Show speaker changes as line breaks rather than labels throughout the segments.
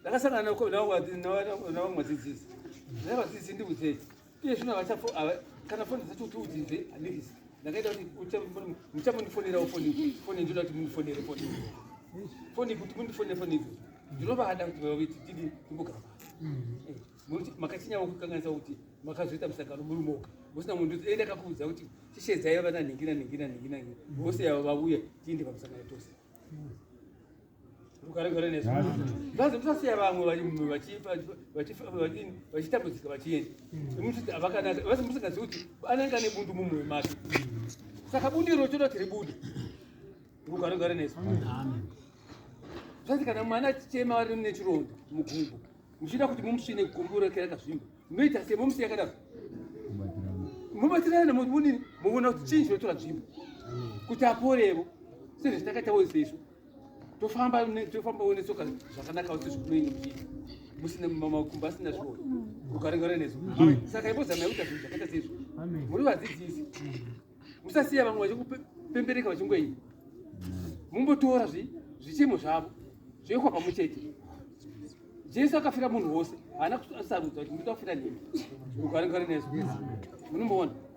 Ndakasangana nako navamwe vadzidzisi. Dai vadzidzisi ndiudzei. Iye zvino havachafu kana foni dzacho kuti udzidze handisi. Ndakaita kuti muchamundifonerawo foni foni ndinoda kuti mundifonere foni. Foni kuti mundifonere foni idzo. Ndinovada kuti vaviti tidi timbogara pasi. Nokuti mm-hmm. makachinyava kukanganisa kuti makazoita musangano muri moga. Musina munhu ndiudzei ndakakuudza kuti tishedzai vana nhingi na nhingi na nhingi na nhingi. Vose yavo vauya tiende pamusangano tose. Mm-hmm. Mukaregare nesu. Ngazi musasiya vamwe vari mumwe vachifa vachifa vachini vachitambudzika vachienda. Muti avakanaka vasi musingazivi kuti anenge ane bundu mumwe make. Saka bundu iro choda tiri bundu. Mukaregare nesu. Zvati kana mwana achichema ari nechironda mugumbo muchida kuti mumusvine gumbo rake rakazvimba munoita sei momusiya kadaro mubatsirana muvonini muvona kuti chii chinotora nzvimbo kuti aporevo sezvo takaita wese isu tofamba tofamba wene soka zvakanaka kuti zvikunoinge muchii musina makumbo asina zvoo ukaringana nezvo saka imbozama yakuita zvinhu zvakaita sezvo muri vadzidzisi musasiya vamwe vachikupembereka vachingoii mumbotora zvichemo zvavo zvoyekwa pamwe chete jesu akafira munhu wose haana kusarudza kuti nditafira nini ukaringana nezvo munomboona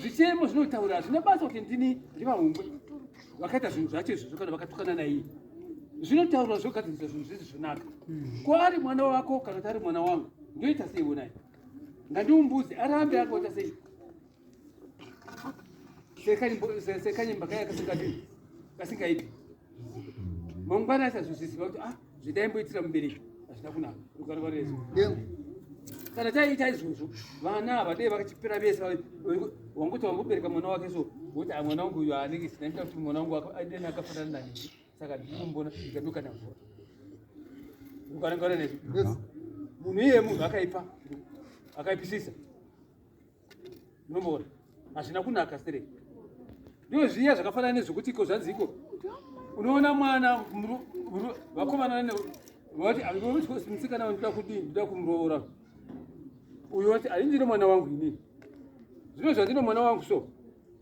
zvichemo zvinotaura hazvina basa kuti ndini ndivahumbwe vakaita zvinhu zvacho izvozvo kana vakatukana naiye zvinotaurwa zvogadzirisa zvinhu zvizi zvonaka kwaari mwana wako kana kuti ari mwana wangu ndoita sei wonai ngandiumbuzi arambe akoita sei sekanyimba kaya kasingaiti mangwana asazvozisiva kuti ah zvindaimboitira mubereki hazvina kunaka rugare rwari resu kana taiita izvozvo vana havadei vakachipera vese wangoti wambobereka mwana wake so woti ah, mwana wangu uyo anenge sinaita kuti mwana wangu adeni akafanana nani saka ndikumbona ndikaduka navora ukanangana nezvi munhu iye munhu akaipa akaipisisa munomboona hazvina kunaka sere ndo zviya zvakafanana nezvekuti iko zvanzi iko unoona mwana vakomana vati musikana wandoda kudii ndoda kumuroora uyo wati aindine mwana wangu inini zvino zvandine mwana wangu so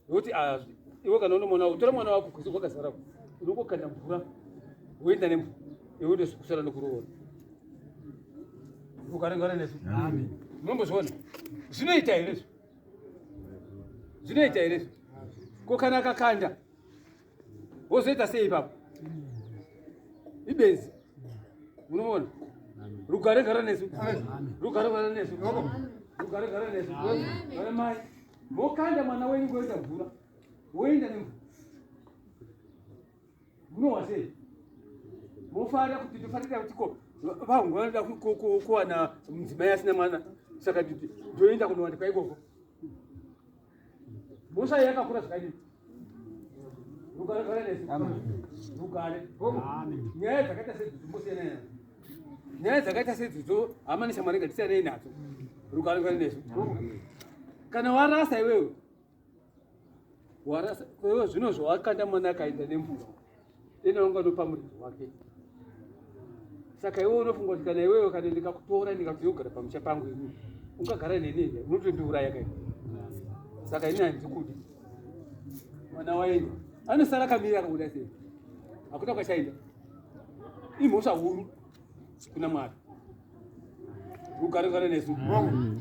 woti ah, iwe kana une mwana utora mwana wako kuzi kwakazara unongokanda mvura woenda nemvura iwe ude kusara nekuroora ukarengana nezvo munombozviona zvinoita here zvo zvinoita here zvo ko kana akakanda wozoita sei ipapo ibenzi unoona rugare gara nesu rugare gara nesu rugare gara nesu vana mai mokanda mwana wenyu ngoenda mvura woenda nemvura munowa sei mofara kuti tofanira kuti ko vanhu vanoda kuwana mudzimai asina mwana saka ndoenda kunowanda kwaikoko mosai yakakura zvakadii rugare rugare nesu rugare nyaya dzakaita sedzidzo mosiyana nadzo nyaya dzakaita sedzidzo hama neshamwari ngatisiyanei nadzo rugare rugare nesu kana warasa iwewe warasa iwewe zvino zvawakanda mwana akaenda nemvura ena wanga anopa muridzi wake saka iwe unofunga kuti kana iwewe kana ndikakutora ndikati yogara pamusha pangu ini ungagara neni here unotondiuraya kai saka ini handikudi mwana waenda anosara kamiri akabuda sei hakuta kwachaenda imhosva huru kuna mwari ugaregare nesu mm.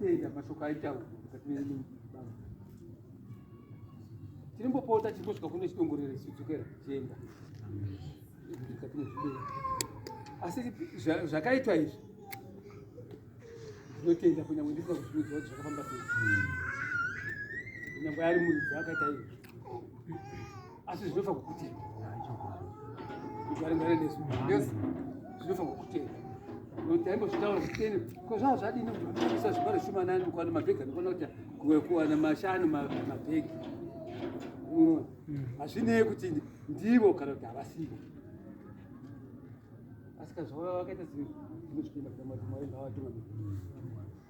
tenda mashoko aitaura tirimbopota chingosvika kune chidongorero chidzokera chienda asi zvakaitwa izvi ndinotenda kunyange ndisina kuzviudza kuti zvakafamba sei kunyange ari muridzi akaita izvi asi zvinofa kukutenda kugaringana nesu yes zvinofa kukutenda kuti aimbozvitaura kutene ko zvava zvadini kuti kuisa zvibaro shumanani ukwana mabhegi anokwana kuti kuwana mashanu mabhegi unoona mm. hazvinei kuti ndivo kana kuti havasivo asi kazvava vakaita zimwe zvimwe zvikuenda kuti mwari ngawatungamiri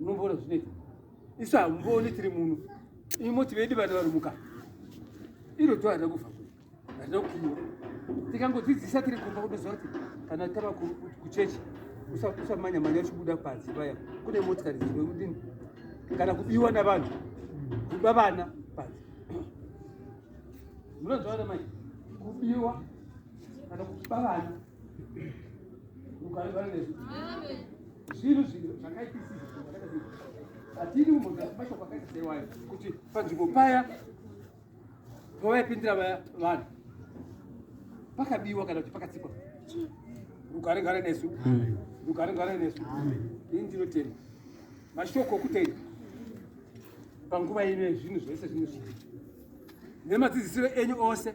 unomboona zvinoita isu hamumbooni tiri muno imi moti vedi vana vanomuka iro to harina kubva kuri harina kukiiwa tikangodzidzisa tiri kumba kutoziva kuti kana tava kuchechi usamanya manya uchibuda panze paya kune motikari dzinoudini kana kubiwa navanhu kuba vana panze munonzwa vana mai kubiwa kana kuba vana zvinhu zvinhu zvakaitisizvatiri mumashoko akaita seiwayo kuti panzvimbo paya pavaipindira vaya vanhu pakabiwa kana kuti pakatsikwa rugare ngare nesu rugare ngare nesu ini ndinotenda mashoko okutenda panguva ine zvinhu zvese zvinhu zvii nemadzidzisiro enyu ose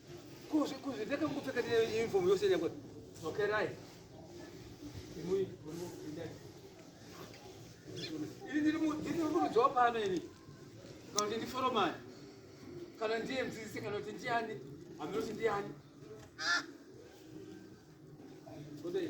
Kuzi kuzi ndeka kupfeka ne uniform yose ne kuti. Okay right. Imui muno indani. Ili ndiri mu ndiri mu job pano ili. Kana ndi foreman. Kana ndiye mdzidzisi kana kuti ndiani? Aminosi ndiani? Kodai.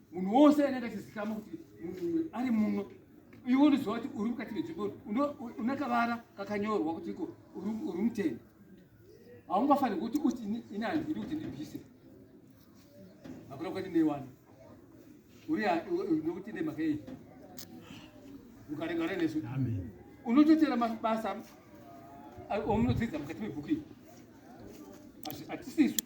munhu wose anenge achizikama kuti munhu uyu ari muno iwe unoziva kuti uri mukati menzvimbo une kavara kakanyorwa kuti iko uri muteni haungafaniri kuti uti ini handidi kuti ndibvise hakuna kwati neiwana uri nokuti nemhaka yei ukarengana nesu unototera mabasa omunodzidza mukati mebhuku iyi hatisisu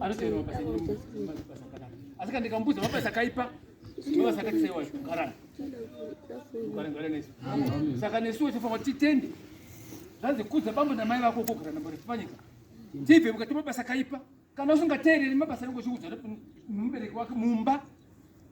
anotoerwa basa asi kana ndikamubudza mabasa akaipa mabasa akati saiwa kugarana kugarangara nesu saka nesuwo tifanwa titende zvanzi kudza bambo namai vako kogara nambori tipanyika tibve mukati mabasa akaipa kana usingateereri mabasa anenge uchiudzana nemubereki wake mumba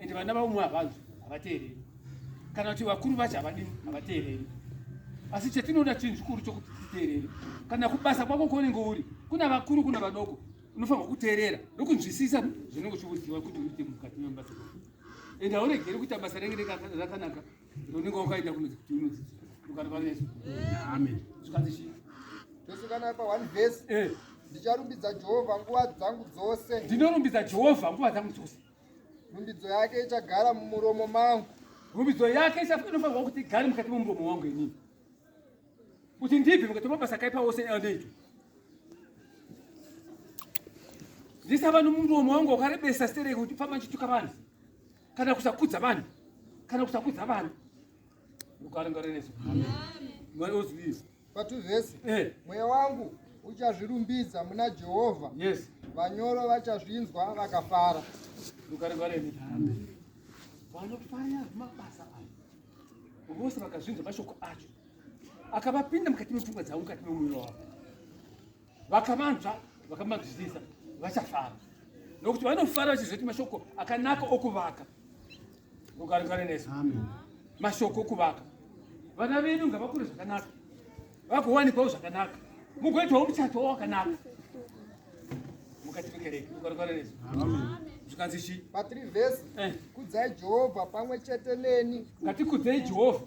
and vana vaumwe havanzwi havateereri kana kuti vakuru vacho havadii havateereri asi chatinoda chinhu chikuru chokuti titeerere kana kubasa kwako kwaunenge uri kuna vakuru kuna vadoko unofanirwa kuteerera nokunzwisisa zvinenge uchiuziva kuti uite mukati memubasa kwako and hauregeri kuita basa renge rakanaka rinenge wakaita kunozi kuti unodzidzira ukanovaneso amen zvikanzi chii tosunganaa pa
one verse eh. ndicharumbidza jehovha nguva dzangu dzose ndinorumbidza jehovha
nguva dzangu dzose Rumbidzo
yake ichagara mumuromo mangu. Rumbidzo yake
inofanirwa kuti igare mukati momuromo wangu inini. Kuti ndibve mukati mabasa akaipa ose anoitwa. Ndisava nomuromo wangu wakarebesa sere kuti famba ndichituka vanhu. Kana kusakudza vanhu. Kana kusakudza vanhu. Mukaringare nesu. Amen. Mwari ozivisa. Patu vhesi
eh. mweya wangu uchazvirumbidza muna jehovha yes. vanyoro vachazvinzwa vakafara vanofarira
mabasa ayo vose vakazvinzwa mashoko acho akavapinda mukati mepfungwa dzavo mukati memwoyo wavo vakavanzva vakamanzwisisa vachafara nokuti vanofara vachizoti mashoko akanaka okuvaka ukarikare nesu mashoko okuvaka vana vedu ngavakure zvakanaka vakuwanikwawo zvakanaka mugoitwawo muchato wakanaka mukati mekereke ukarikare nesu zvikanzi chi pa 3 vhesi
eh. kudzai jehovha pamwe chete neni ngatikudzei jehovha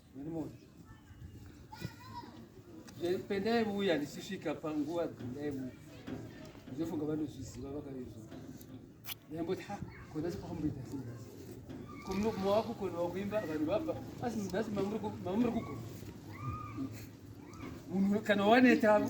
Eh, pendai vuya ndichisvika panguva dzendai mu ndofunga vanozviziva vakavezva ndamboti ha kona sikwamboita singasi mawako kona wakuimba vanhu vabva asi nhasi mamuri kugona munhu kana wanetavo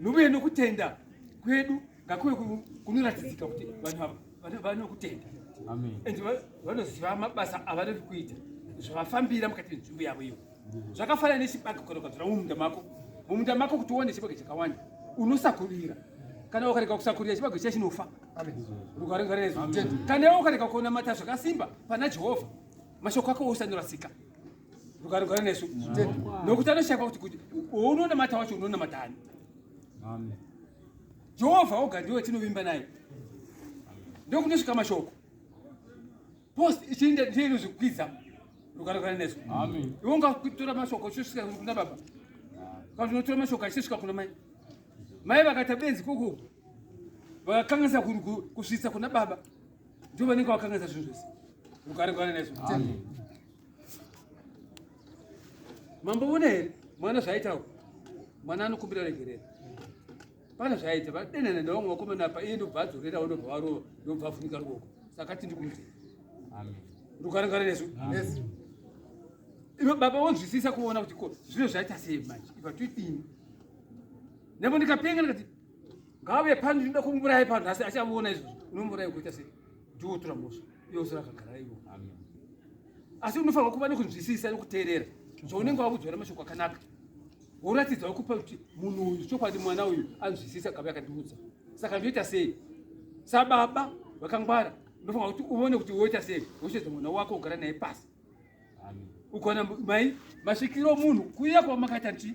Nouye nokutenda kwedu ngakuve kunoratidzika kuti vanhu vanokutenda and vanoziva mabasa avanori kuita zvavafambira mukati menzvimbo yavo iyo zvakafanana nechibage kana ukadzora mumunda mako mumunda mako kuti uone chibage chakawanda unosakurira kana ukarega kusakurira chibage chiya chinofa kana iwe ukarega kuona mata zvakasimba pana jehovha mashoko ako osanorasika rukarugara nesu nokuti anoshaiva kuti kuti ounonamata wacho unonamata ani jehovha oga ndiwe tinovimba naye ndokunosvika mashoko post ichiinda ndiye inozvikwidza rukarugara nesu iwe ungakutora mashoko uchisvika kuna baba kana unotora mashoko achisvika kuna mai mai vakaita benzi koko vakakanganisa kusvitsa kuna baba ndio vanenge vakanganisa zvinhu zvese rukarugara nesu Mambo vona here mwana zvaitawo mwana anokumbira regerero pane zvaita vadenana nevamwe vakomana apa iye ndobva adzorera ndobva varova ndobva afunika ruoko saka tindi kumuti rukarangana nesu ivo baba vonzwisisa kuona kuti ko zvino zvaita sei manje iva toidini nepo ndikapenga ndikati ngave pano ndinoda kumuurayi pano asi achamuona izvozvo unomuurayi kuita sei ndiwo otora mhosva iye osara akagara ivo asi unofanirwa kuva nekunzwisisa nekuteerera zvaunenge wavudzwa nemashoko akanaka woratidzao kupa kuti munhu uyu chokwadi mwana uyu anzwisisa kave akandiudza saka ndoita sei sababa vakangwara unofanira kuti uone kuti woita sei wochedza mwana wako ugara naye pasi ukaona mai masvikiro munhu kuya kwamakaita nti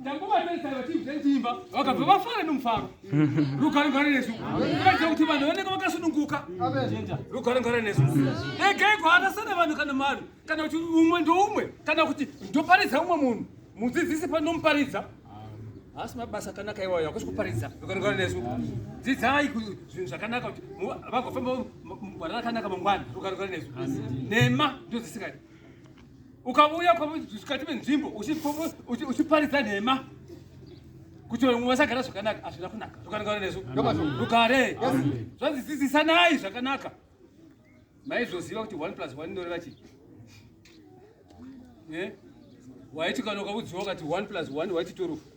ndanguvatarisai vachiibva ndimba vakabva vafara nomufaro rugare ngare nesu kuratidza kuti vanhu vanenge vakasununguka rugare ngare nesu regai kuhanasana vanhu kana mari kana kuti umwe ndoumwe kana kuti ndoparidza umwe munhu mudzidzisi panomuparidza haasi mabasa akanaka iwayo hakusi kuparidza rugare ngare nesu dzidzai zvinhu zvakanaka kuti vagofamba mugwara rakanaka mangwana rugare ngare nesu nhema ndodzisingaiti ukauya pakati penzvimbo uchiparidza nhema kuti vamwe vasagara zvakanaka hazvina kunaka zvakanaka nezvo rugare zvanzi dzidzisanai zvakanaka maizoziva kuti one plus one inoreva chii eh? waiti kana ukaudziwa ukati one plus one waiti turufu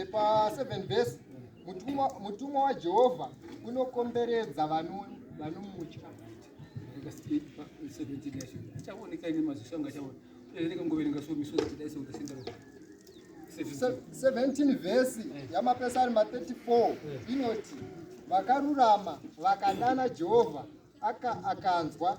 E, pa 7 vhesi mutumwa, mutumwa wajehovha unokomberedza vanomutya
achaoneka ine maziso anga achaona uye nekangoverenga so misodzi kudai seutasenda 17 vhesi
eh. yamapesari ma 34 eh. inoti vakarurama vakadana jehovha akanzwa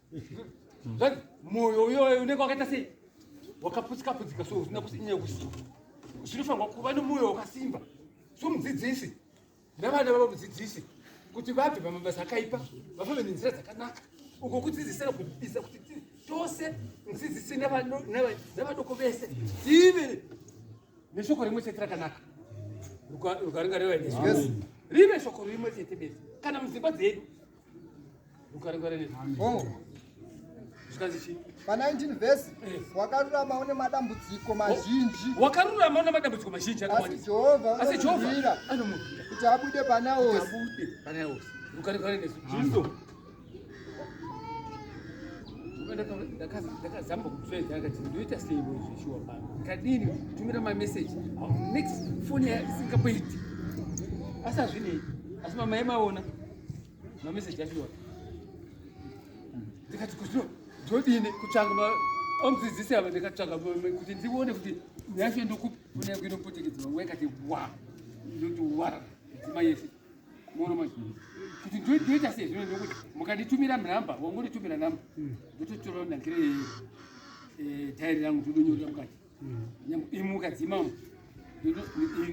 Zvanzi moyo uyoyo unenge wakaita sei? Wakaputsika putsika so usina kusinya kusi. Zvinofanirwa kuva nomoyo wakasimba. So mudzidzisi navana vavo mudzidzisi kuti vabve pamabasa akaipa vafambe nenzira dzakanaka uko kudzidzisira kubisa kuti tose mudzidzisi navadoko vese tive neshoko rimwe chete rakanaka rukaringa revainezvo rive shoko rimwe chete bese kana mudzimba dzedu Oh. pa 19 vhesi eh.
wakarurama une madambudziko oh. mazhinji wakarurama une madambudziko
mazhinji asi
jehovha unokuhwira
kuti abude panaosi ndakazamba kupfeza akati ndoita sei zvishuwa pano kadini tumira mameseji next foni isingapoiti asi azvinei asi mama yemaona mameseji achiona ndikati kuzvino ndodini kutsvanga omudzidzisi ava ndikatsvaga kuti ndione kuti nyashe ndokuinopotekedzwa nguva ikati wa ndoti wa dzima yese mono manje kuti ndoita sei zvino ndokuti mukanditumira nhamba wangonditumira nhamba ndototora ndangire eh, tairi rangu ndodonyorera mukati imuka dzimamo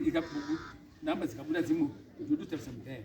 ikabhuku nhamba dzikabuda dzimwe ndototarisa mudhairi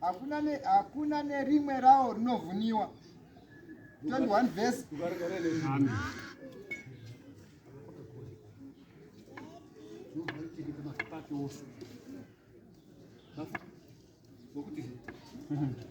hakuna ne hakuna nerimwe rawo rinovhuniwa 21 verse
Thank you.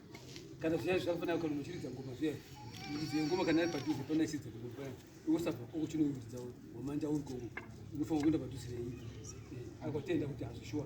kana zviya zvafanira kana muchiridza ngoma zviya muchiridza ngoma kana ari padhuze pana chiridza ngoma paya iwosabva kwako chinoiridza wamanja uri kwako unofanira kuenda padhuze neiyi akotenda kuti hazvishuwa